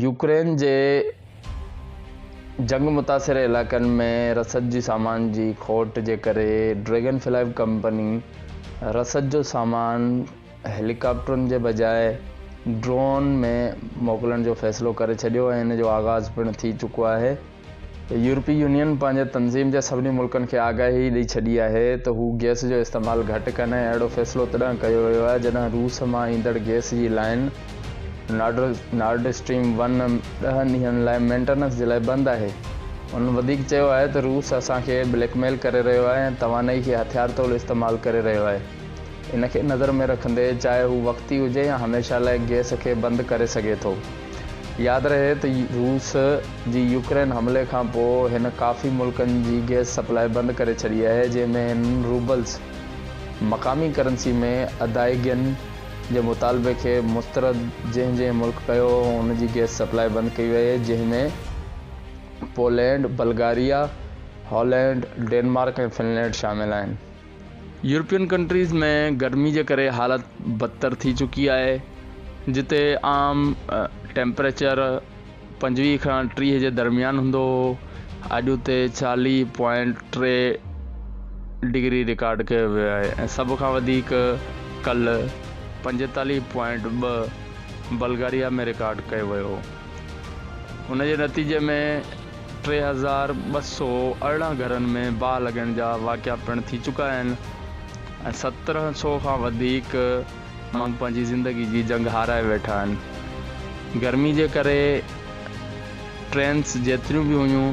Ukraine جي جنگ متاثر علائقن ۾ رسد جي سامان جي کوٽ جي ڪري ڊريگن فلائيو ڪمپني رسد جو سامان هيليڪاپٽرن جي بجاء ڊرون ۾ موڪلڻ جو فيصلو ڪري ڇڏيو ۽ ان جو آغاز پڻ ٿي چڪو آهي. يورپي يونين پنهنجي تنظيم جي سڀني ملڪن کي آگاهي ڏئي ڇڏي آهي ته هو گئس جو استعمال گهٽ ڪن ۽ اهڙو فيصلو تڏهن ڪيو ويو آهي جڏهن روس مان ايندڙ گئس جي لائين نارڊ اسٽريم ون ڏهه ڏينهن لاء مينٽيننس جي لاء بند آهي. هن وڌيڪ چيو آهي ته روس اسان کي بليڪ ميل ڪري رهيو آهي ۽ توانائي کي هٿيار طور استعمال ڪري رهيو آهي ان کي نظر ۾ رکندي چاهي هو وقتي هجي يا هميشه لاء گئس کي بند ڪري سگهي ٿو. ياد رهي ته روس جي يوڪرين حملي کانپوء هن ڪافي ملڪن جي گئس سپلاء بند ڪري ڇڏي آهي جنهن ۾ هن روبلز، مقامي ڪرنسي ۾ ادائيگين، جي مطالبي کي مسترد جنهن جنهن ملڪ ڪيو ان جي گئس سپلاء بند ڪئي وئي جنهن ۾ Poland, Bulgaria, Holland, Denmark ۽ Finland شامل آهن. يورپين ڪنٽريز ۾ گرمي جي ڪري حالت بدتر ٿي چڪي آهي جتي عام ٽيمپريچر پنجويهه کان ٽيهه جي درميان هوندو هو اڄ اتي چاليهه پوائنٽ ٽي ڊگري رڪارڊ ڪيو ويو آهي ۽ سڀ کان وڌيڪ ڪلهه پنجيتاليهه پوائنٽ ٻه بلغاريا ۾ رڪارڊ ڪيو ويو هو ان جي نتيجي ۾ ٽي هزار ٻه سؤ ارڙهن گهرن ۾ باهه لڳڻ جا واقعا پڻ ٿي چڪا آهن ۽ سترهن سؤ کان وڌيڪ ماڻهو پنهنجي زندگي جي جنگ هارائي ويٺا آهن. گرمي جي ڪري ٽرينس جيتريون به هيون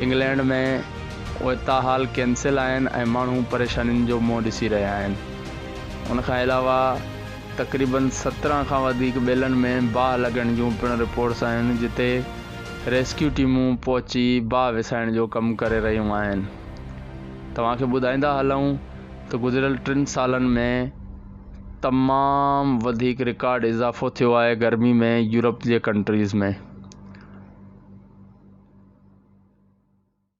انگلينڊ ۾ اهي تاحال ڪينسل آهن ۽ ماڻهو پريشانين جو منهن ڏسي رهيا آهن. ان کان علاوه تقريبن سترهن کان وڌيڪ ٻيلن ۾ باهه لڳڻ جون پڻ رپورٽس آيون جتي ريسڪيو ٽيمون پهچي باهه وسائڻ جو ڪم ڪري رهيون آهن. توهان کي ٻڌائيندا هلون ته گذريل ٽن سالن ۾ تمام وڌيڪ رڪارڊ اضافو ٿيو آهي گرمي ۾ يورپ جي ڪنٽريز ۾.